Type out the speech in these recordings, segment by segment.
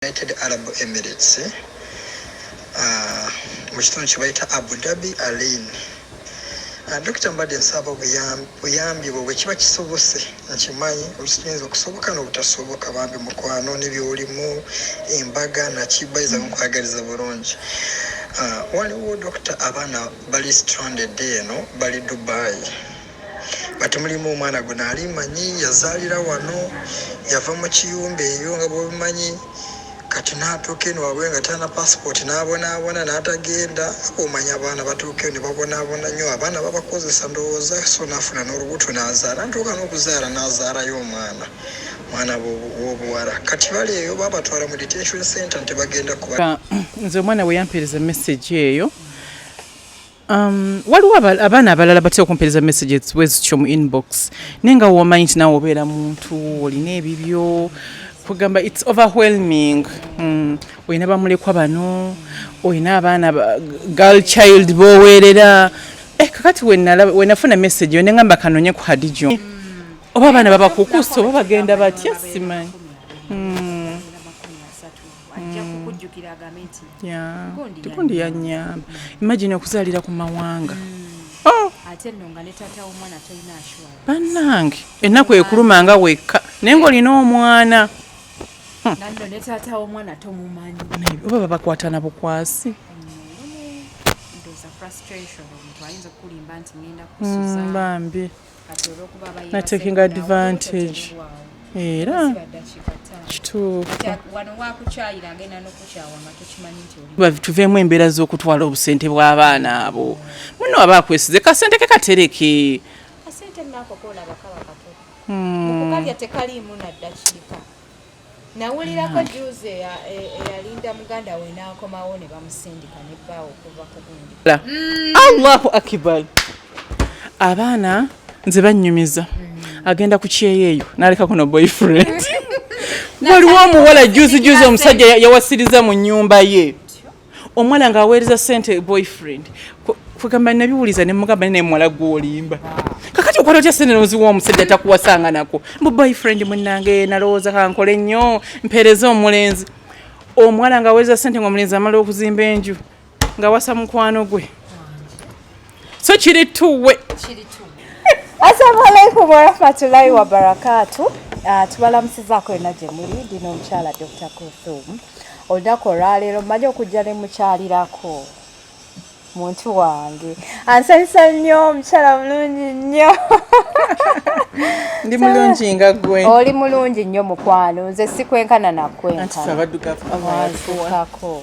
United Arab Emirates uh, mu kitundu kye bayita Abu Dhabi Alain uh, Dokita mbadde nsaba obuyambi bwe bwekiba kisobose nkimanyi olusikiyinza okusoboka n'obutasoboka bambi mukwano nebyolimu embaga nakibayiza nkwagaliza bulungi uh, waliwo dokita abaana bali stranded eno bali Dubai But mulimu omwana gwe naali manyi yazaalira wano yava mu kiyumba eyo nga bwobimanyi kati natuuka eno wabwe nga tana passport nabonaabona natagenda omanya abaana batuuka eno nebabonaabona nyo abaana babakozesa ndowooza so nafuna n'olubuto nazaala ntuuka n'okuzaala nazaalayo omwana mwana wobuwala kati bali eyo babatwala mu detention center nti bagenda kuba nze omwana weyampeereza message eyo Um, waliwo abaana abalala batya okumpereza messages wezityo mu inbox naye nga womanyi nti nawe obeera muntu olina ebibyo kugamba its overwhelming mm. olina bamulekwa bano olina abaana girl child boweerera eh, kakati wenafuna message yo nengamba kanonye ku hadijo oba abaana babakukusa oba bagenda batya simanyi mm. ajja mm. kukujjukira agambe nti tikundi yanyamba imagine okuzaalira ku mawanga mm. oh! ate nno nga ne taata w'omwana tolina ashwa bannange ennaku ekuluma nga wekka naye ng'olina omwana hmm. nanno ne taata w'omwana tomumanyi oba babakwatana bukwasi mm, bambi na taking advantage era kituufutuveemu embeera z'okutwala obusente bw'abaana abo muno aba akwesize kasente ke katereke hmm. nawulirako juzi eyalinda muganda we n'akomawo ne bamusindika ne bbaawo okuva ku gundi mm. allahu akibar abaana nze bannyumiza mm. agenda ku kyeyo eyo naleka kuno boyfriend waliwo omuwala juzi juzi omusajja yawasiriza mu nyumba ye omwana nga aweereza sente boyfriend kwegamba nabiwuliza nemugamba naye muwala gwolimba kakati okola otya sente noziwa omusajja takuwasanga nako mbu boyfriend munange nalowooza kankole nnyo mpeereza omulenzi omuwala nga aweereza sente nga omulenzi amala okuzimba enju nga wasa mukwano gwe so kiri tuwe assalamu alaikum warahmatullahi wabarakatu ah, tubalamusizaako yona gye muli ndina omukyala dr kuthum olunaku olwaleero mmanyi okujja ne mukyalirako muntu wange ansanyusa nnyo omukyala mulungi nnyo ndi mulungi nga gwe oli mulungi nnyo mukwano nze sikwenkana nakwenkanaabaddugavuako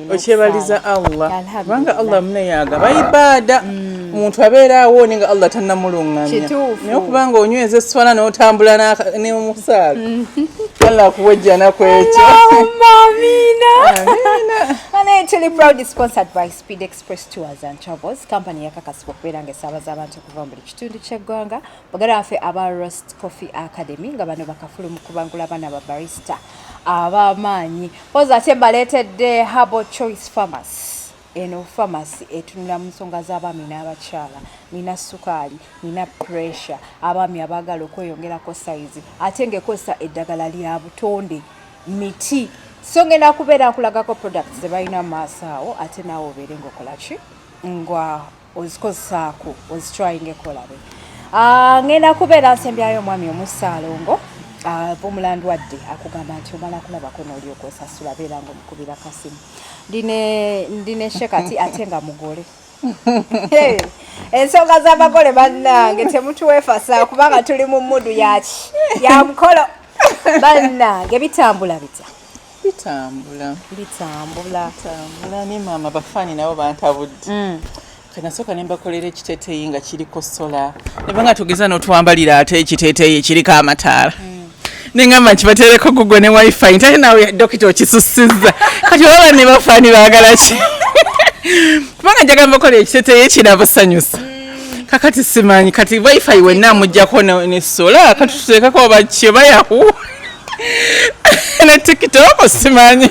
okyebaliza allah kubanga allah muneyaga baibaada mm. omuntu abeera awooni nga allah tanamulungamya naye okubanga onyweza eswala notambula nemusaala mm. allah akuwejjana kwekyo naye tuli proud sponsored by speed express tours and travels company yakakasibwa okubeera nga esaabaza abantu okuva mu buli kitundu ky'eggwanga bagala baffe aba rost coffee academy nga bano bakafulu mu kubangula abaana ba barista abamaanyi poza ate baleetedde harbo choice farmacy eno famasi etunula mu nsonga z'abaami n'abakyala nina sukaali nina pressure abaami abaagala okweyongerako sayizi ate ngaekozesa eddagala lya butonde miti so ngenda kubeera nkulagako products ze balina mu maaso awo ate naawe obeere ngaokolaki nga ozikozesaako ozitryinga ekolabe ah, ngenda kubeera nsembyayo omwami omusaalongo ah, omulandu wadde akugamba nti omala kulabako noolyoka osasula beera nga omukubira kasimu ndi ne shekati ate nga mugole ensonga z'abagole bannange temutuwefasa kubanga tuli mu mudu yaki yamukolo bannange bitambula bitya bitambula bitambula bitambula ne maama bafaani nabo bantabudde mm. kanasooka ne mbakolera ekiteteeyi nga kiriko sola neba nga tugeza n'otwambalira ate ekiteteeyi ekiriko amataala mm. nengamba nti batereko google ne wifi nti ate nawe dokita okisusiza kati oba banne bafaani baagala ki kubanga njagala mbakola ekiteteeyi kirabasanyusa mm. kakati simanyi kati wifi wenna amujjako ne sola kati tuteekako oba kyo bayahu ne tikitoko simanyi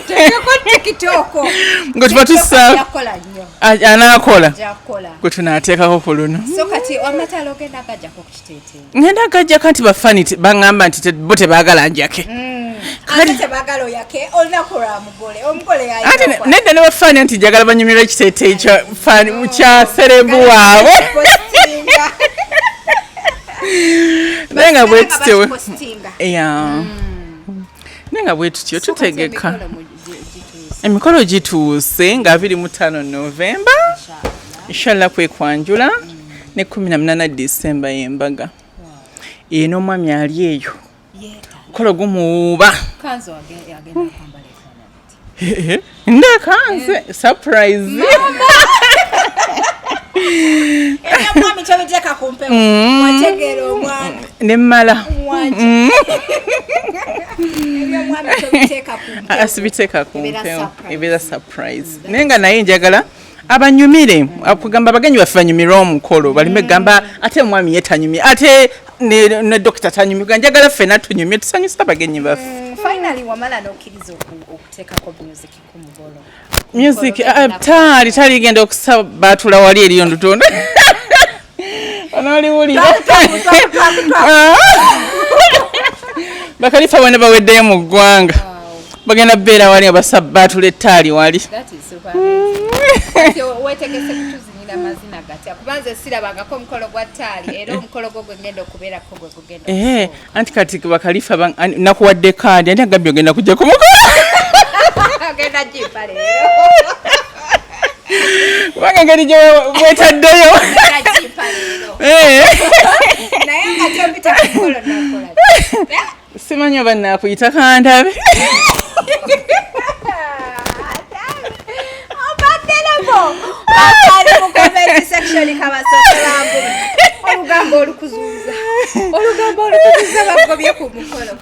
nga tuba tusa anaakola gwe tunaateekako ku luno ngenda gajjako nti bafani baŋŋamba nti bo tebaagala njake mm. ate nedda nebafaana nti jagala banyumirwa ekiteeteeyi kya serebu waabwe naye nga bwetutyo hmm. naye nga bwetutyo tutegeka emikolo gituuse nga abiri mu ttaano novemba inshallah kwekwanjula hmm. ne kumi na munana disemba yembaga eno omwami ali eyo kola gumuwuuba ndakanze surprise nemmala asibiteeka kumpewo ebeera surprise naye nga naye njagala abanyumire akugamba abagenyi baffe banyumire omukolo balime gamba ate omwami ye tanyumye ate ne dokita tanyumye ga njagala ffena tunyumye tusanyusa abagenyi baffe mm, music ah, taali taligenda okusabatula wali eriyo ndutonda onoliwulira bakalifa bona baweddeyo mu ggwanga bagenda beera wali baatula ettaali wali Eh, anti kati bakalifa nakuwadde kaadi anti agambye ogenda kujja kumukola kubanga engeri gyewetaddeyo simanyi oba nakuyita kandabe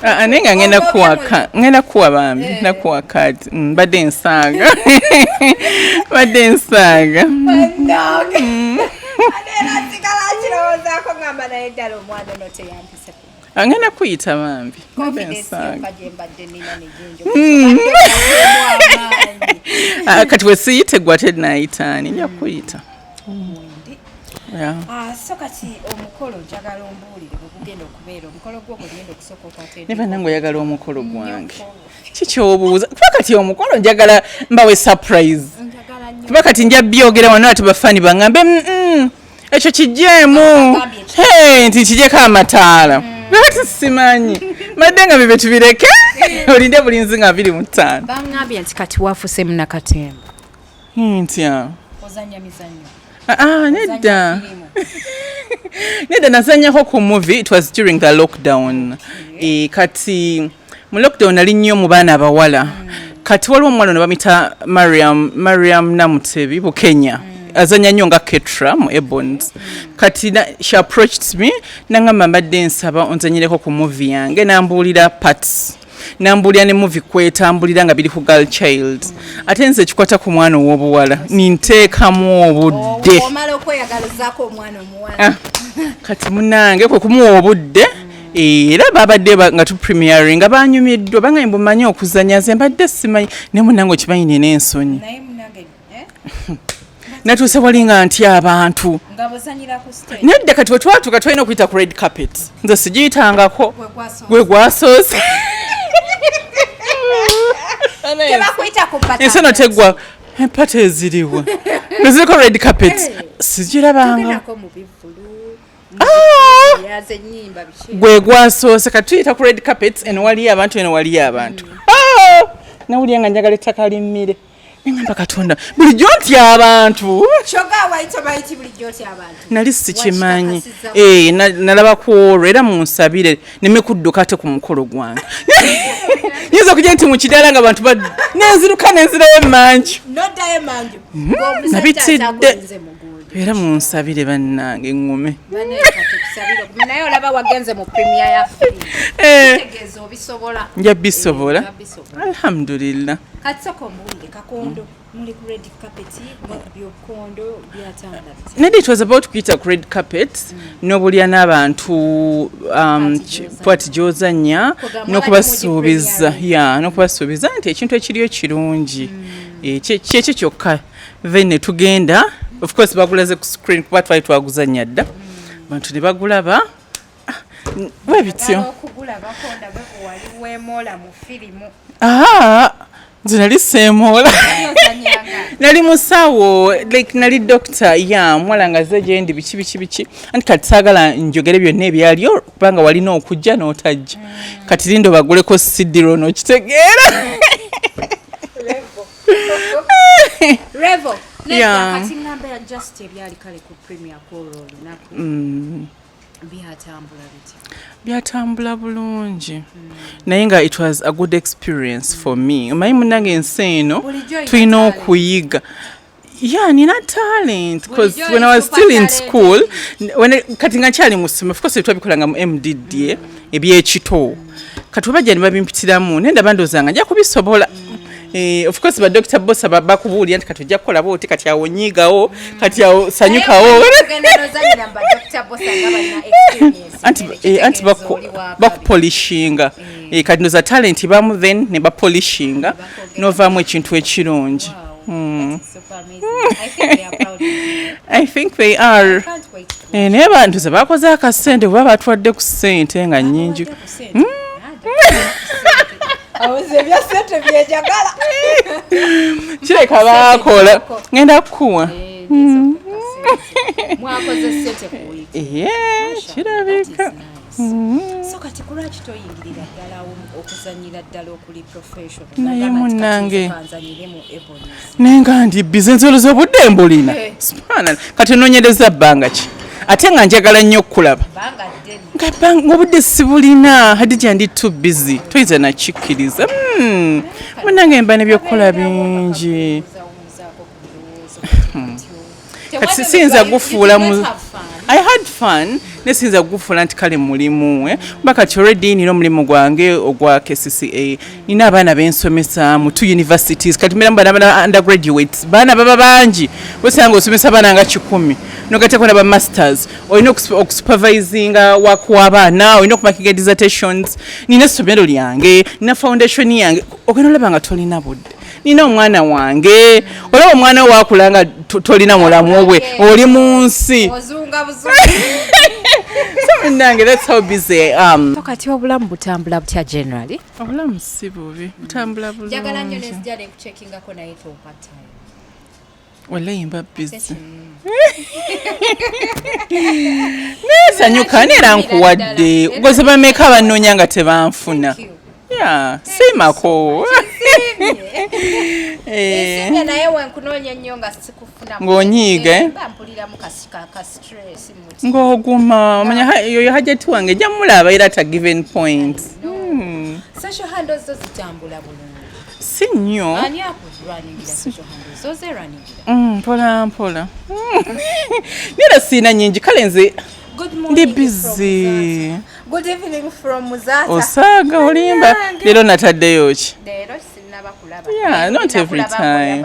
ah, ah, naye nga ngenda kuwaka ngenda kuwa bambi eh. nakuwa kati mm, mbadde nsaaga badde nsaaga angenda kuyita bambi hmm. ah, kati wesiyite gwa tenayitaani nja kuyita ah, so kati omukolo njagala ombuulire bwegugenda okubeera omukolo gwo gwegenda okusooka okwatene naye banange oyagala omukolo gwange kikyobuuza kuba kati omukolo njagala mbawe surprise kuba kati nja byogera wano ati bafaani bangambe mm, mm. ekyo kijeemu nti kijeko amataala lwaki mm. simanyi madde nga bibyo tubireke olinde bulinzi nga abiri mu ttaano bangambye nti kati wafuse munakatemba ntya ah, ah, nedda nedda nazanyako ku movie it was during the lockdown eh, kati mu lockdown nali nnyo mu baana abawala kati waliwo omuwala ono bamita mariam mariam namutebi bukenya azanya nnyo nga ketra mu ebons kati na- she approached me nangamba mbadde nsaba onzanyireko ku muvi yange nambuulira parts nambuulira ne muvi kwetambulira nga biri ku girl child ate nze ekikwata ku mwana ow'obuwala ninteekamu obudde omala okweyagalizaako omwana omuwala Ah, kati munange kwe kumuwa obudde Eh, era babadde nga tu premiering nga banyumiddwa bangaye mbu manyi okuzanya nze mbadde simanyi ne munange okimanyi nina ensonyi eh? natuuse wali nga nti abantu nedda kati wetwatuka tulina okuyita ku red carpet nze sigiyitangako gwe gwasoose ensi eno teggwa empata eziriwa neziriko red carpet sigirabanga ah! gwe gwasoose katuyita ku red carpets eno waliyo abantu eno waliyo abantu mm. ah! nawulira nga njagala ettaka limmire neŋamba katonda bulijjo nti abantu nali sikimanyi eh, nalaba ku olwo era munsabire neme kudduka te ku mukolo gwange yinza okujja nti mukidaala nga bantu nenziruka nenzirayo emanju hmm, nabitidde era munsabire bannange ŋŋume naye olaba wagenze mu premier ya eh. tegeeza obisobola nja bisobola eh, alhamdulillah katisoko mbuulire kakondo muli ku red carpet byokondo byatanga nedi it was about kuyita ku red carpet mm. n'obulya n'abantu um, pati gyozanya n'okubasuubiza ya n'okubasuubiza nti ekintu ekiriyo kirungi mm. eh, kyekyo kyokka then ne tugenda of course bagulaze ku screen kuba twali twaguzannya dda abantu ne bagulaba ah, we bityo nze nali seemoola nali musawo like nali dokita ya mwala nga ze gyendi biki biki biki anti kati saagala njogere byonna ebyaliyo kubanga walina okujja n'otajja mm. kati lindo baguleko sidiro n'okitegeera Revo. Yeah. Kati ngamba ya just ebyali kale ku premier call olunaku. Mm. Byatambula bitya? Byatambula bulungi. Mm. Naye nga it was a good experience mm. for me. Omanyi munange ensi eno tulina okuyiga. Yeah, nina talent because when I was still in school when I, kati nga nkyali mu ssomero of course twabikolanga mu MDDA ebyekito kati oba gyali babimpitiramu naye ndaba ndowooza nga nja kubisobola Eh, of course ba Dr. Bosa baba kubuulira nti kati ojja kukola bwoti kati awo nyiigawo kati awo sanyukawo anti eh, bakupolishinga eh. eh, kati noza talenti bamu then ne bapolishinga novaamu ekintu ekirungi hmm. i think they are eh, naye bantu ze bakoze akasente kuba batwadde ku sente nga nyingi hmm? kireka bakola ngenda kukuwa hmm. kirabika Mm-hmm. so kati kulwaki toyingirira ddala okuzanyira ddala okuli professionalnaye munange naye nga ndi bize nzoloza obudde mbulina eh. spanal kati ononyereza bbanga ki ate nga njagala nnyo okukulaba ngaobudde sibulina hadija ndi to busy toyinza nakikkiriza hmm. munange mba nebyokukola bingi kati sisinza gufuula mu I had fun nesinza kugufuula nti kale mulimu eh? kuba kati already nina omulimu gwange ogwa kcca nina abaana bensomesa mu two universities kati mbeera mubana bana undergraduates baana baba bangi wesanga osomesa abaana nga kikumi nogateko naba masters olina okusupervisinga wak wabaana olina okumakinga dissertations nina essomero lyange nina foundation yange ogenda olaba nga tolina budde nina omwana wange olaba omwana wakula nga tolina mulamu we oli mu nsi nange that's how busy um kati obulamu butambula butya generally obulamu si bubi butambula bulungi njagala nnyo ne sijja ne kucheckinga ko naye to part time walayi mbabbizi naye sanyuka neera nkuwadde goze bameka bannoonya nga tebanfuna Yeah, simako eh. ng'onyiiga eh? ng'oguma omanya yoyo hajati wange ejja mulaba era ta given point hmm. si nnyo mm, mpola mpola nera siina nyingi kale nze ndi bizi osaaga olimba leero nataddeyo ki not every time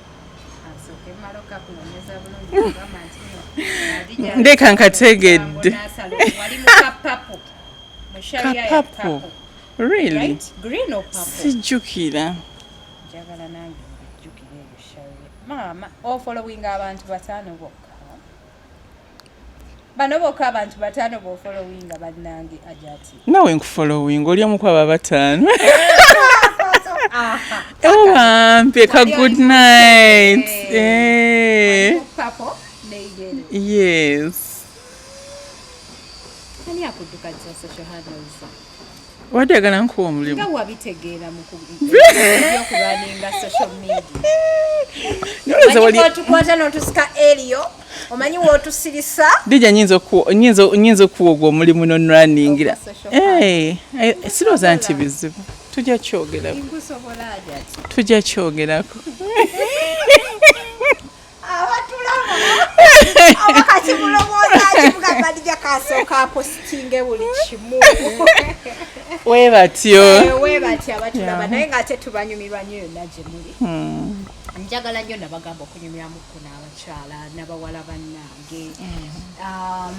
ndeka nkategedde kapapo really sijjukira maama ofolowinga abantu bataano bokka bano bokka abantu bataano bofolowinga bannange ajati nawe nkufolowinga oli omu kwabo abataano ewampe ka good night eh. yes ani akuddukanisa social handles Wadi agala nkuwa omulimu. Nga wabitegeera mu kulwaninga social media. Noleza wali. Wali tukwata notusika Elio. Omanyi wotusirisa. Dija nyinza ku nyinza nyinza kuwa ogwo omulimu no runningira. Eh, eh siroza nti bizibu. Tujja kyogerako. Tujja kyogerako. abatulaba abakati mulowooza kimugamba ndija kasooka apositinge buli kimu webatyo eh, webatyo abatulaba naye ngaate tubanyumirwa nyo yonna gye muli hmm. njagala nnyo nabagamba okunyumiramu ku n'abakyala nabawala bannange hmm. um,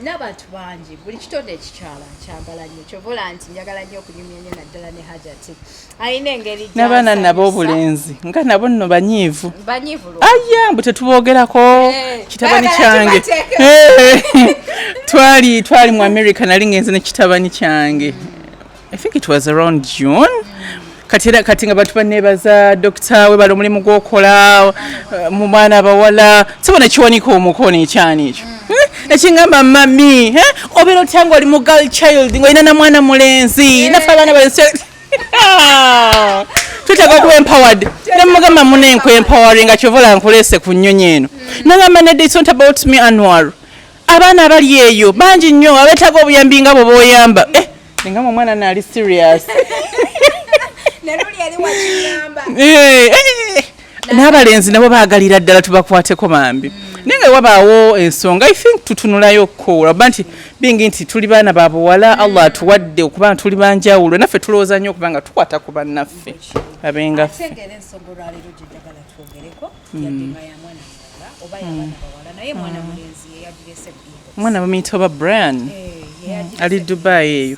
n'abantu bangi buli kitonde ekikyala nkyagala nnyo kyovola nti njagala nnyo okunyumya nnyo naddala ne hajati mm. alina engeri n'abaana nabo obulenzi nga nabo nno banyiivu aya mbu tetuboogerako eh, kitabani kyange eh, twali twali mu america nali ngenze ne kitabani kyange i think it was around june kati era kati nga bantu banebaza dokita we bali omulimu gwokola eh, mu mwana abawala sibona kiwanika omukono ekyana ekyo ekingamba eh, mami eh, obeera otya nga oli mu gal child ngaolina na mwana mulenzi nafe abaana bali twetaaga okuba empowered nemugamba muna enku empoweringa kyovola nkuleese ku nnyonyi eno nagamba nedde it's not about me anwar abaana abali eyo bangi nnyo abetaaga obuyambi nga bwe boyamba eh, nga mu mwana naali serious eh, eh, n'abalenzi nabo baagalira ddala tubakwateko bambi naye nga wabaawo ensonga i think tutunulayo ko olaba nti bingi nti tuli baana ba buwala mm. allah atuwadde okuba tuli banjawulo naffe tulowooza nnyo okuba nga tukwata ku bannaffe abengaffe mm. omwana bamuyita oba brian eh, ali dubai eyo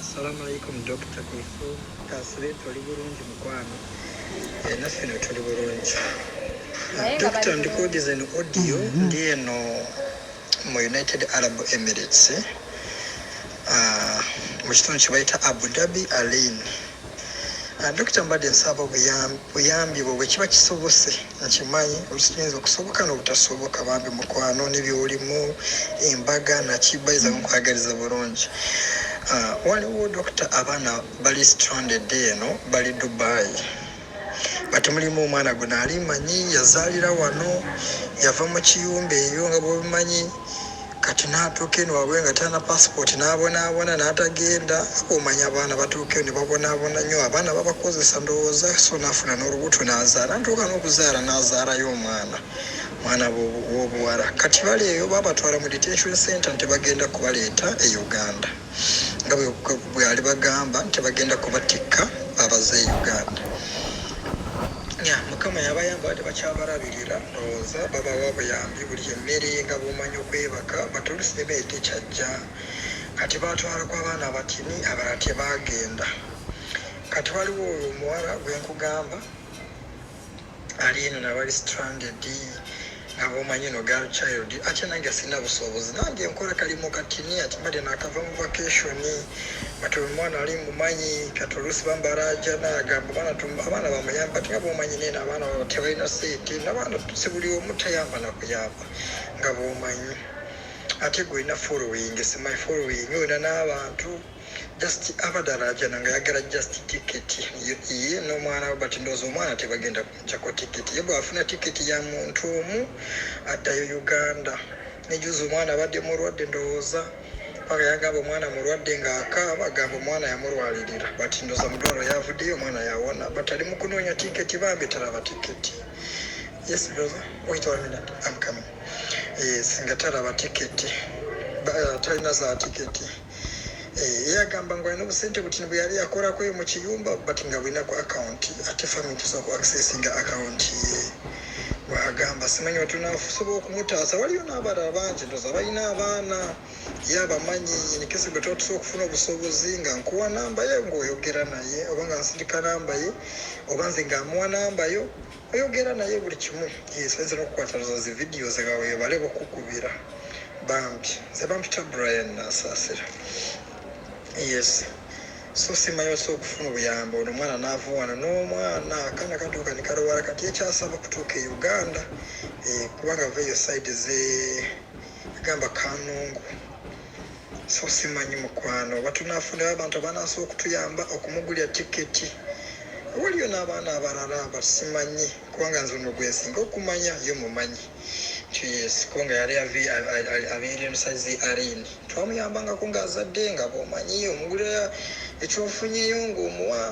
Assalamu alaikum Dokita Kulifu Kasire toli bulungi mukwano eh, naffe no tuli bulungi Dokita ndikuwudiza eno audio mm-hmm. ndi eno mu United Arab Emirates ah, mu kitundu kye bayita Abu Dhabi Alain Ah, Dokita mbadde nsaba obuyambi bwo bwekiba kisobose nkimanyi olukiyinza okusoboka nobutasoboka bambi mukwano nebyolimu embaga nakibayiza mukwagaliza bulungi ah, waliwo dokita abaana bali stranded eno bali dubai bati mulimu omwana gwe naali manyi yazaalira wano yava mu kiyumba eyo nga bwobimanyi Kati natuuka eno wabwe nga talina passport nabonabona natagenda omanya abaana batuuka eno nebabonabona nyo abaana babakozesa ndowooza so nafuna nolubuto nazaala natuuka nokuzaala nazaalayo omwana mwana wobuwala kati bali eyo babatwala mu detention center nti bagenda kubaleeta e Uganda. nga bweyali bagamba nti bagenda kubatikka abaze uganda ya mukama yabayamba bade bakyabalabirira ndowooza babawa buyambi buli emmere nga bumanyi okwebaka batolusibebeyi tekyajja kati batwala ku abaana abatini abala tebagenda kati waliwo oyo omuwala gwenkugamba ali eno nabali stranded nga bomanyi no girl child ate nange sirina busobozi nange nkola kalimu katini ati mbadde nakava mu vacation but omwana ali mumanyi kati oluusi bambaraja nagamba abaana bamuyamba tinga bomanyi nene abaana baba tebalina sente nabaana sibuli omu tayamba nakuyamba nga bomanyi ate gwe olina following simanyi following olina n'abantu na just abadde alaajana nga yagala just ticket ye n'omwana we but ndowooza omwana tebagenda kumujako ticket ye bwafuna ticket ya muntu omu addayo uganda nejuza omwana abadde mulwadde ndowooza paka yagamba omwana mulwadde ng'akaaba agamba omwana yamulwalirira but ndowooza mudwalo yavuddeyo omwana yawona but ali mu kunoonya ticket bambi talaba ticket yes brother wait one minute i'm coming yes nga talaba ticket talina za ticket Eh, yagamba ngu alina obusente buti bwe yali yakolako eyo mu kiyumba but nga bulina ku akawunti ate fami tusobola ku accessinga akawunti ye bwagamba simanyi batunasobola okumutaasa waliyo n'abalala bangi ndoza balina abaana ye abamanyi enikese gwe tuba tusobola okufuna obusobozi nga nkuwa namba ye ngaoyogera naye oba nga nsindika namba ye oba nze nga amuwa namba yo oyogera naye buli kimu yesenzera okukwatalaza zi vidiyo zega webale bukukubira bambi nze bampita brian nasasira yes so simayose okufuna obuyambi ono omwana naava wano n'omwana akana katuuka nikalowala kati ekyasaba kutuuka e uganda eh, kubanga ava eyo side ze agamba kanungu so simanyi mukwano oba tunafunayo abantu abanaasa okutuyamba okumugulira tiketi waliyo n'abaana abalala abasimanyi kubanga nze ono gwensinga okumanya ye mumanyi yes kubanga yali abeera emusazi arin twamuyambangako ng'azadde nga bwomanyi omugulira ekyofunyeyo ng'omuwa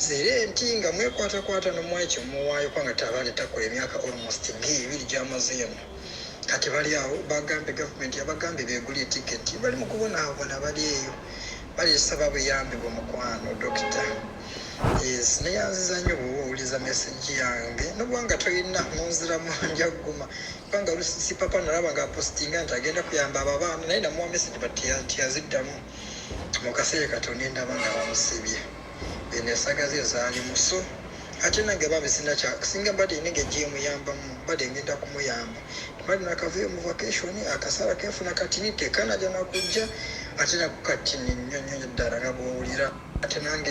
zere nti nga mwekwatakwata nomuwa ekyo muwaayo kubanga tabaana takola emyaka almost ge ebiri gyamaze eno kati bali awo bagambe gavumenti yabagambye begulye tiketi bali mukubonaabona bali eyo balisaba buyambi bwomukwano dokita yes neyanziza nyo bwoba owuliza meseji yange nobwanga tolina munziramu njaguma kubanga lusipapa nalaba nga apostinga nti agenda kuyamba abo abaana naye namuwa meseji but tiyaziddamu mu kaseera kati onendaba nga bamusibye eno esaga ze zaali muso ate nange babe sinakyasinga mbadde nenge gyemuyambamu mbadde ngenda kumuyamba mbadde nakavuyo mu vacation akasaala kenfuna katini tekanaja nakujja ate nako katini nnyo nnyo ddala nga bwowulira ate nange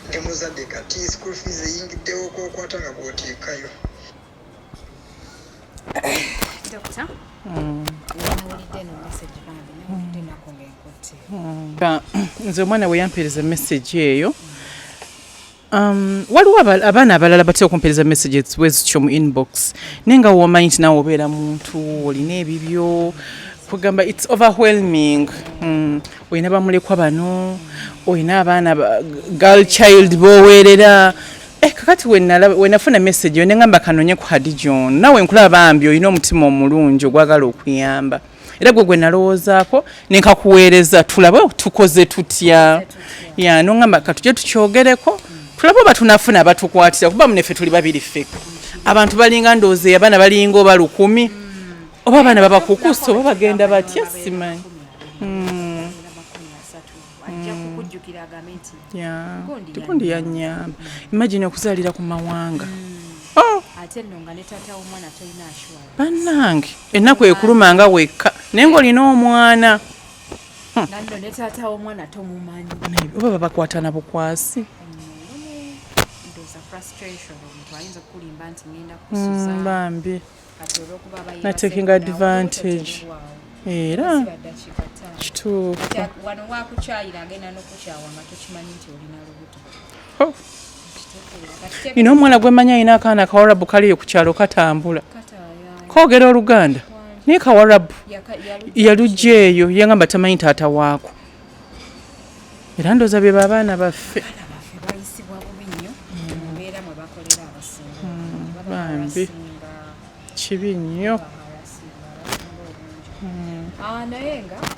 ndi muzadde kati school fees eyingiddewo kwokwata nga bwoteekayo Dokita, mm. mm. nze omwana bwe yampeereza emesegi eyo um, waliwo abaana abalala batera okumpeereza mesegi wezityo mu inbox naye nga womanyi nti nawe obeera muntu olina ebibyo kugamba its overwhelming mm. olina bamulekwa bano olina abaana girl child boweerera Eh, kakati wenafuna message yo nengamba kanonye ku Hadija ono nawe nkulaba bambi olina omutima omulungi ogwagala okuyamba era gwe gwe nalowoozaako nenkakuweereza tulabe tukoze tutya ya nongamba katuje tukyogereko tulabe oba tunafuna abatukwatira kuba munefe tuli babiri ffeka abantu balinga ndowooza eyabaana balinga oba lukumi oba abaana babakukusa oba bagenda batya simanyi hmm. ajja mm. kukujjukira agambe nti tikundi yanyamba imagine okuzalira ku mawanga mm. oh! ate nno nga ne taata w'omwana tolina ashwa bannange ennaku ekuluma nga wekka naye ng'olina omwana hmm. nanno ne taata w'omwana tomumanyi oba babakwatana bukwasi mm, bambi na taking advantage era kituufunina omuwala gwemanya alina akaana kawarabu kaliyo ku kyalo katambula kogera oluganda naye kawarabu yalugya eyo yangamba tamanyi taata waako era ndoza bye babaana baffe bambi kibi nnyo hmm. ah,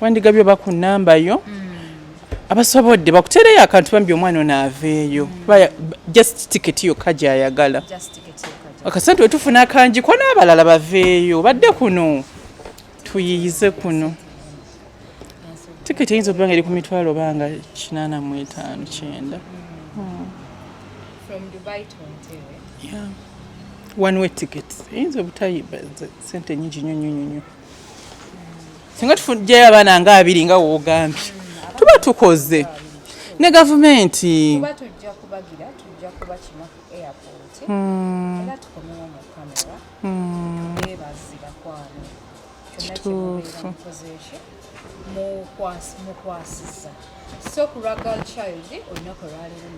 wandigabye oba ku namba yo hmm. abasobodde bakuteereyo akantu bambi omwana ono aveeyo hmm. just ticket yokka gyayagala akasente wetufuna akanjiko n'abalala baveeyo badde kuno tuyiyize kuno tiketi eyinza okuba nga eri ku mitwalo banga kinaana mu etaano kyenda hmm. one way ticket eyinza obutayiba sente nyingi nyo nyo nyo singa tufujjayo abaana nga abiri nga woogambye hmm, tuba tukoze ne gavumenti hmm. kituufu mukwasiza so ku lwa gal child olunaku olwaleero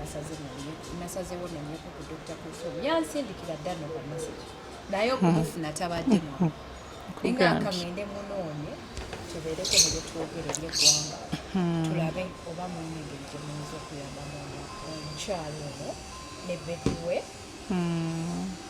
nasazewo nanyeko ku dr kulthum yansindikira dda noka message naye okumufuna tabaddemu ninga akangende munoonye tubeereko ne byetwogere ebyeggwanga hmm. tulabe oba mulina engeri gye muyinza okuyambamu omukyalo ono ne bebiwe hmm.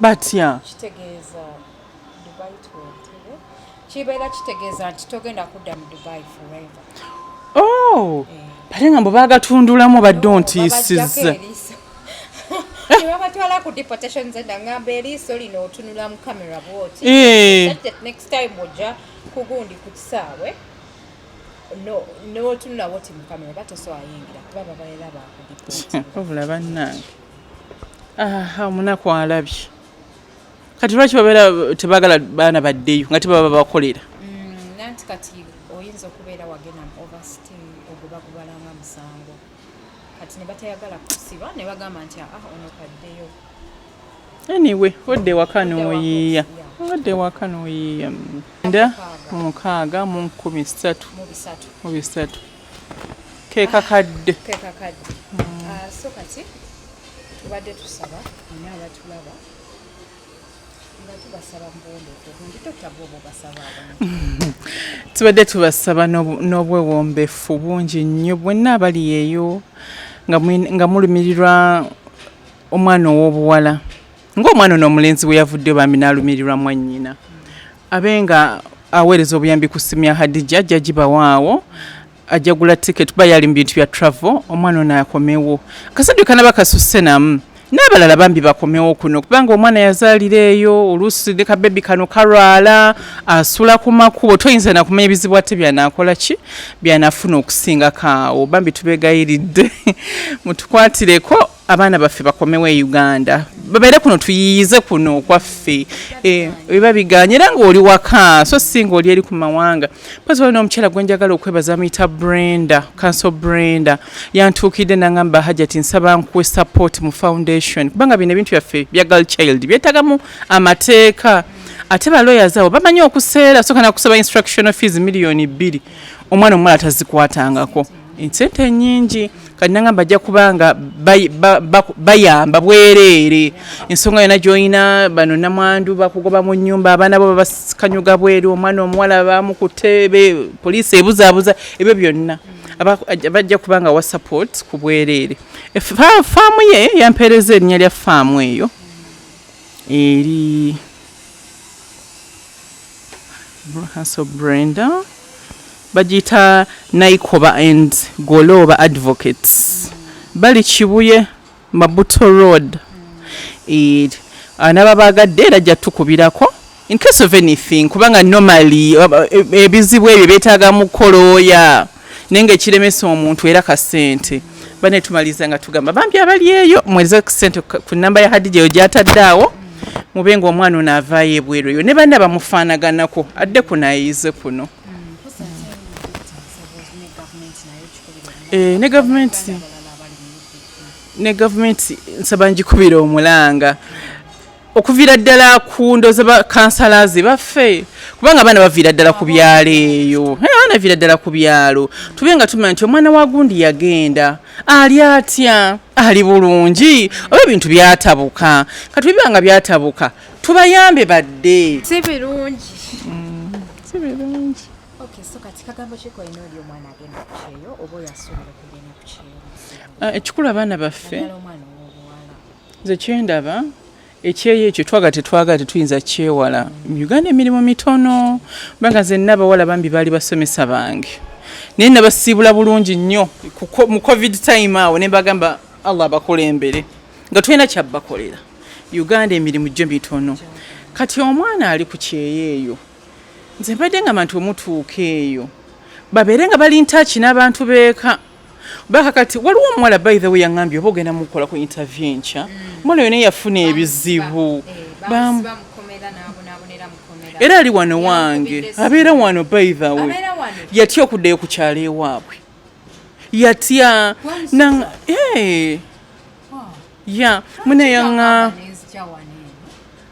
batya kitegeeza dubai tuwentebe kibeera kitegeeza nti togenda kudda mu dubai forever oh eh. bate nga mbu bagatundulamu badde ontiisiza nebabatwala ku deportation zenda ngamba eriiso lino otunula mu camera bwoti eh. next time ojja kugundi ku kisaawe n'otunula woti mu camera batosoayingira kuba babaera bakudiobula bannange aha omunaku alabye kati lwaki babeera tebagala baana baddeyo nga tebaba bakolera mm, nanti kati oyinza okubeera wagenda ovest ogubagubalanga musango kati nebatayagala kusiba nebagamba nti aa ah, ono kaddeyo anyway odde waka noyiiya odde waka noyiiya nda mukaaga mu nkumi satu mu bisatu kekakadde kekakadde mm. ah, so kati tubadde tusaba ani abatulaba tubadde tubasaba n'obwewombefu bungi nnyo bwenna abali eyo nga mulumirirwa omwana ow'obuwala ng'omwana ono omulenzi bwe yavuddeyo bambi n'alumirirwa mwannyina abenga aweereza obuyambi ku ssimu ya hadija ajja gibawaawo ajja gula ticket kuba yali mu bintu bya travel omwana ono akomewo akasadde kanaba kasusse namu n'abalala bambi bakomewo kuno kubanga omwana yazaalira eyo oluusi ne kabebi kano kalwala asula ku makubo toyinza nakumanya ebizibu ate byanakola ki byanafuna okusingako awo bambi tubegayiridde mutukwatireko abaana baffe bakomewo e uganda babeere kuno tuyiyize kuno okwaffe eh, biba biganye era ngaoli waka so singa oli eri ku mawanga pozi wali n'omukyala gwe njagala okwebaza amuyita brenda kanso brenda yantuukidde nangamba hajati nsaba nkuwe support mu foundation kubanga bino ebintu byaffe bya gal child byetagamu amateeka ate baloya zaabo bamanyi okuseera soka nakusaba instructional fees miliyoni bbiri omwana omuwala tazikwatangako ensente nyingi kati nangamba ajja kubanga bayamba bwereere ensonga yona gyolina bano namwandu bakugoba mu nyumba abaana bo babakanyuga bweru omwana omuwala bamukute poliisi ebuzabuza ebyo byonna bajja kubanga wa support ku bwereere e, faamu ye yampeereza erinnya lya faamu eyo eri Hustle Brenda bagiyita Naikoba and Golooba Advocates bali Kibuye Mabuto Road eh, anaba baagadde era ajja tukubirako in case of anything kubanga normally eh, eh, ebizibu ebyo byetaaga mukolooya naye nga ekiremesa omuntu era kasente bane tumaliriza nga tugamba bambi abali eyo mweze kusente ku namba ya hadija eyo gyatadde awo mube nga omwana ono avaayo ebweru eyo ne banna bamufaanaganako adde kuno ayize kuno eh, ne gavumenti ne gavumenti nsaba njikubira omulanga okuviira ddala ku ndoza bakansalaze baffe kubanga abaana baviira ddala ku byalo eyo abaana viira ddala ku byalo tube nga tumanya nti omwana wa gundi yagenda ali atya ali bulungi oba ebintu byatabuka katubiba nga byatabuka tubayambe badde si birungi mm, si birungi ah, ekikulu abaana baffe nze kyendaba ekyeyo ekyo twaga tetwagala tetuyinza kyewala mu uganda emirimu mitono banga zenna abawala bambi baali basomesa bange naye nabasiibula bulungi nnyo mu covid time awo ne mbagamba allah abakulembere nga tulina kyabbakolera uganda emirimu gyo mitono kati omwana ali ku kyeyo eyo nze mbadde nga bantu omutuuka eyo babeere nga bali ntaki n'abantu beeka baka kati waliwo omuwala by the way yangambye oba ogenda mukola ku interview enkya omwana mm. yona yafuna ebizibu era ali wano wange abeera wano by the way yatya okuddayo ku kyalo ewaabwe yatya eh. ya mune yaŋa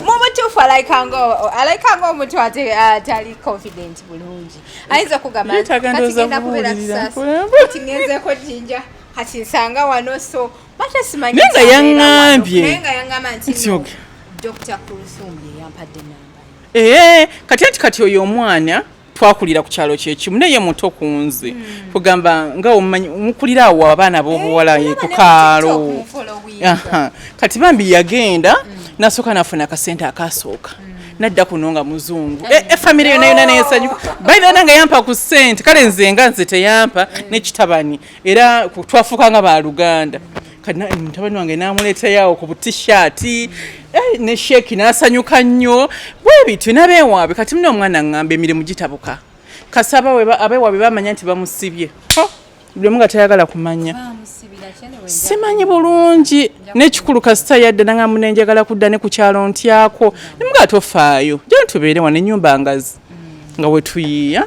mubutuufu alaikanga omuntu atali uh, confident bulungi ayinza okugambatigenda kubeera kisasi ngenzeko jinja kati nsanga wano so batasimanyi nga yaŋambye dr kulusumbi yeyampadde namba ee eh, kati anti kati oyo omwana twakulira ku kyalo kyekimu naye muto ku nze hmm. kugamba nga omumanyi mukulira awo abaana b'obuwala eh, ku kaalo kati bambi yagenda hmm. nasooka nafuna akasente akasooka hmm. nadda kuno nga muzungu eh, eh, efamiry yona yona neyesanyuka bainana nga yampa ku sente kale nze nga nze teyampa nekitabani era twafuuka nga baluganda mutabani wange namuleeteyawo ku butishaati eh, ne sheeki n'asanyuka nnyo bwe bityo nabeewaabe kati muna omwana ngamba emirimu gitabuka kasaba abeewaabe bamanya nti bamusibye buli omu nga tayagala kumanya simanyi bulungi nekikulu kasita yadde nanga munenjagala kudda ne ku kyalo ntyako nemuga tofaayo jana tubeere wano enyumba ngazi nga wetuyiiya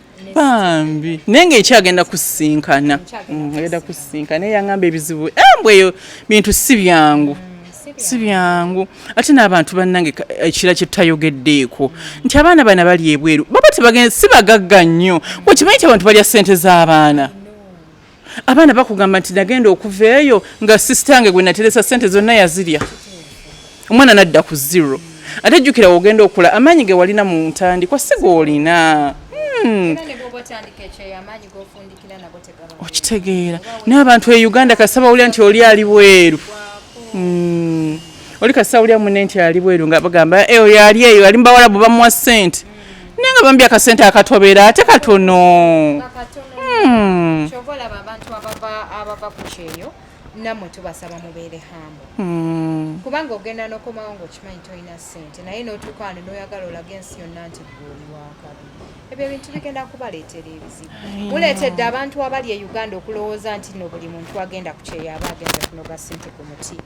bambi naye nga ekyagenda kusisinkana mm, agenda kusisinkana naye yangamba ebizibu embwa eh, eyo bintu si byangu mm. si byangu ate n'abantu bannange ekira kye tutayogeddeeko nti abaana bana bali ebweru baba tebagenda si bagagga nnyo wekimanyi ti abantu balya ssente z'abaana abaana bakugamba nti nagenda okuva eyo nga sisitange gwe nateresa sente zonna yazirya omwana nadda ku zero ate jjukira wogenda okula amaanyi ge walina mu ntandikwa si goolina hmm. okitegeera naye abantu e uganda kasita bawulira nti oli ali bweru hmm. oli kasita wulira mune nti ali bweru nga bagamba eh, oyo ali eyo ali mubawalabu bamuwa sente naye nga bambi akasente akatobera ate katono hmm. kyobola babantu abava ku kyeyo namwe tubasaba mubeere hambo hmm. kubanga ogenda nokomawo ngaokimanyi tolina sente naye notukaano noyagala olaga ensi yonna nti gweoli wakabi ebyo ebintu bigenda kubaleetera ebizibu muleetedde abantu abali e uganda okulowooza nti no buli muntu agenda ku kyeyo aba agenze kunoga sente ku muti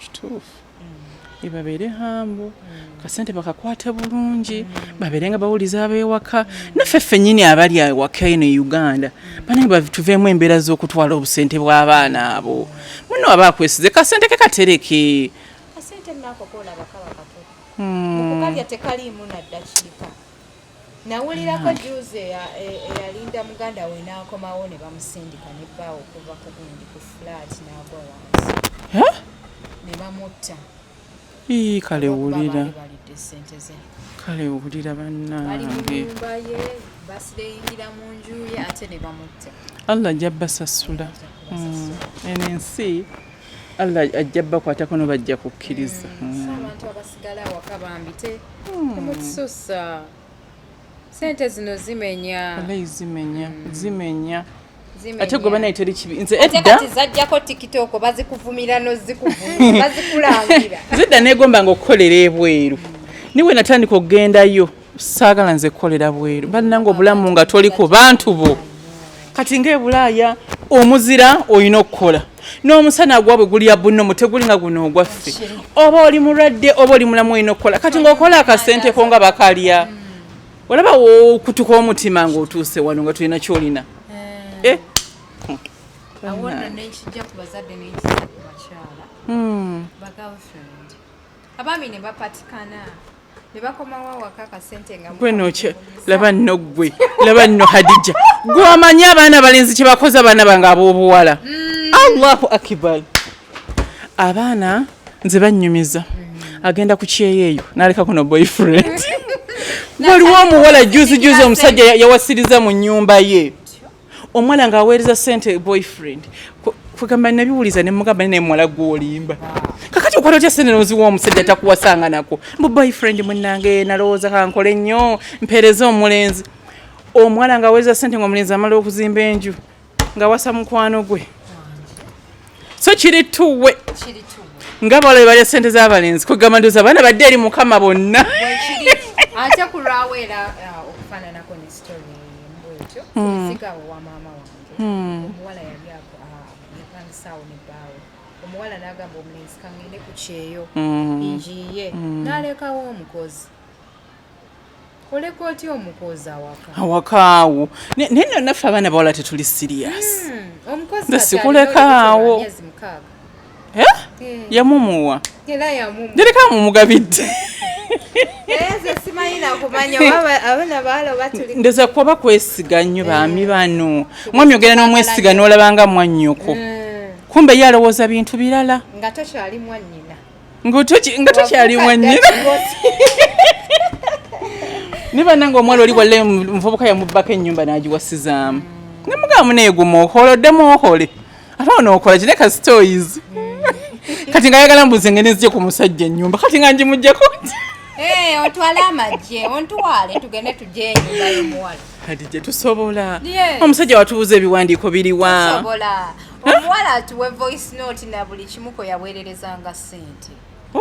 kituufu ebabeere hambo kasente bakakwate bulungi babeere nga bawuliza abewaka naffe ffenyini abali awaka eno e uganda banange batuveemu embeera z'okutwala obusente bw'abaana abo muno aba akwesize kasente ke katereke kasente nako kolaba kaba kato hmm. mukukalya tekaliimu naddakiika nawulirako juzi eyalinda muganda we n'akomawo ne bamusindika ne bbaawo okuva ku gundi ku flat n'agwa wansi ne bamutta ii kale wulira kale wulira bannange basideyingira mu nju ye ate ne bamutta allah ajja basasula mm. eno ensi allah ajja bakwatako no bajja kukkiriza mm. mm. sigala awaka bambi te hmm. mukisusa sente zino zimenya alayi zimenya hmm. zimenya ate gwe banaye teri kibi nze edda zajjako tiktok bazikuvumira nozikuvumibazikulangirnze edda negombanga okukolera ebweru niwe natandika okugendayo saagala nze kukolera bweru bannanga obulamu nga toli ku bantu bo kati ngaebulaaya omuzira olina okukola n'omusana gwabwe gulya bunno muteguli nga guno ogwaffe oba oli mulwadde oba oli mulamu olina okukola kati ngaokola akasenteko nga bakalya olaba wokutuka omutima ngaotuuse wano nga tulina kyolina eh. Eh? abaami ne bapatikana gwe nokyo laba nno gwe laba nno hadija gwe omanyi abaana balenzi kyebakoze abaana bange ab'obuwala mm. allahu akibar abaana nze bannyumiza mm. agenda ku kyeyo eyo nalekako no boyfriend waliwo omuwala juzi juzi omusajja yawasiriza mu nyumba ye omwana nga aweereza sente boyfriend kwegamba nabiwuliza nemugamba naye muwala gwolimba kakati okola otya sente noziwa omusajja takuwasanga nako mbu boyfriend munange nalowooza kankole nnyo mpeereza omulenzi omwana nga aweereza sente nga omulenzi amala okuzimba enju nga wasa mukwano gwe so kiri tuwe nga balabe balya sente z'abalenzi kwegamba ndoza abaana badde eri mukama bonna ate ku lwawo era uh, okufaananako ne story mbwekyo hmm. sigawo wa maama wange hmm. omuwala yali uh, yapangisaawo ne bbaawe omuwala n'agamba omulenzi kangende ku kyeyo hmm. njiye n'alekawo omukozi oleka otya omukozi awaka awakaawo naye no naffe abaana bawala tetuli sirias hmm, omukozi sikulekaawo eh? eh. yamumuwa jereka mumugabidde ndoza kuba kwesiga nnyo baami eh. bano mwami ogenda n'omwesiga n'olabanga mwannyoko hmm. kumbe ye alowooza bintu birala nga tokyali mwanyina nga tokyali mwennyini naye banange omuwala oli walla omuvubuka yamubbako ennyumba n'agiwasizaamu nemugamba neeguma okola oddemu okole ate onookola kine kasitoyizi kati nga ayagala mbuze ngene nzije ku musajja ennyumba kati nga njimujjako eh, otwale amagye ontwale tugende tugye enyumba yomuwala kati gye tusobola omusajja watubuza ebiwandiiko biriwa omuwala atuwe voice note na buli kimu kwe yaweererezanga ssente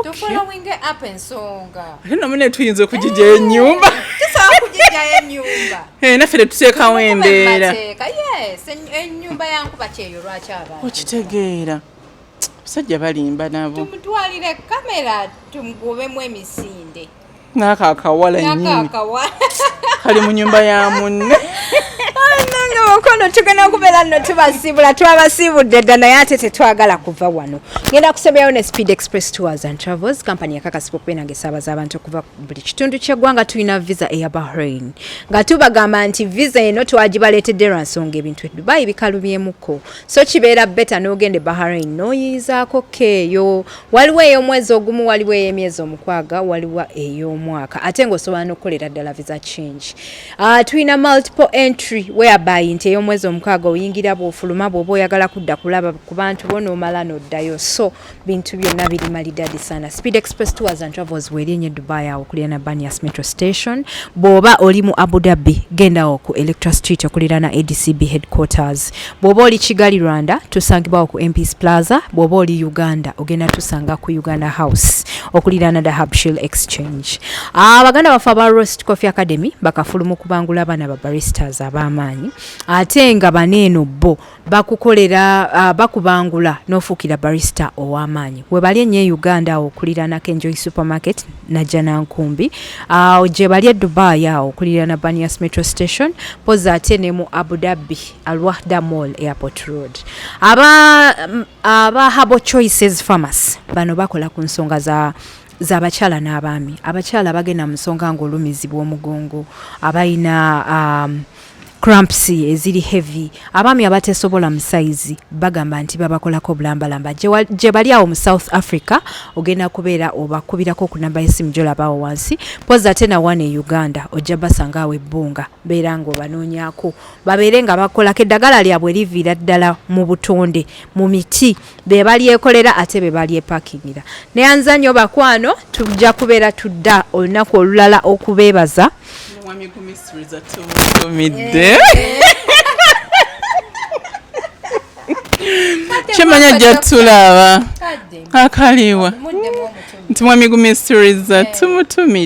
tufolowinge up ensonga ate namu ne tuyinza okugijja eh, enyumba tusobola kugijja enyumba eh, naffe tetuteekawo embeera yes enyumba yankuba kyeyo lwaki abantu okitegeera abasajja balimba nabo tumutwalire kamera tumugubemu emisinde naka akawala nyini kali mu nyumba ya munne mukono tugenda kubeera nno tubasiibula twabasiibudde dda naye ate tetwagala kuva wano ngenda kusembeyawo ne speed express tours and travels kampani yakakasibwa okubeera nga esaabaza abantu okuva buli kitundu kyeggwanga tulina visa eya bahrain nga tubagamba nti visa eno twagibaleetedde lwa nsonga ebintu edubayi bikalubyemukko so kibeera beta n'ogenda e bahrain n'oyiyizaako keeyo waliwo ey'omwezi ogumu waliwo ey'emyezi omukwaga waliwo ey'omwaka ate ng'osobola n'okukolera ddala visa change uh, tulina multiple entry whereby nti ey'omwezi omukaaga oyingira bw'ofuluma bw'oba oyagala kudda kulaba ku bantu bo n'omala n'oddayo so bintu byonna biri malidadi sana speed express tours and travels weeri enye dubai awo okulirana banias metro station bw'oba oli mu abu dhabi gendawo ku electra street okulirana adcb headquarters bw'oba oli kigali rwanda tusangibwawo ku mps plaza bw'oba oli uganda ogenda tusanga ku uganda house okuliraana the habshil exchange ah, abaganda baffe aba rost coffee academy bakafulu mu kubangula abaana ba baristas ab'amaanyi ate nga bana eno bo bakukolera ah, bakubangula n'ofuukira barista ow'amaanyi webali enyo e uganda awo okuliraanako enjoy supermarket najanankumbi ah, gye bali e dubai awo okuliraana banias metro station poza ate ne mu abu dhabi alwahda mall airport road aba mm, aba habo choices pharmacy bano bakola ku nsonga za zabakyala n'abaami abakyala bagenda mu nsonga ngaolumizibwa omugongo abalina um, cramps eziri heavy abaami abatesobola mu sayizi bagamba nti babakolako obulambalamba gye bali awo mu south africa ogenda kubeera obakubirako ku namba yesimu gyolabaawo wansi pozi ate nawana e uganda ojja basanga awo ebbunga beera ngaobanoonyako babeere nga bakolako eddagala lyabwe liviira ddala mu butonde mu miti be balyekolera ate be balyepakingira neyanza nnyo bakwano tujja kubeera tudda olunaku olulala okubeebaza kyemanya jatulaba akaliwa nti mwamigumisturiza tumutumide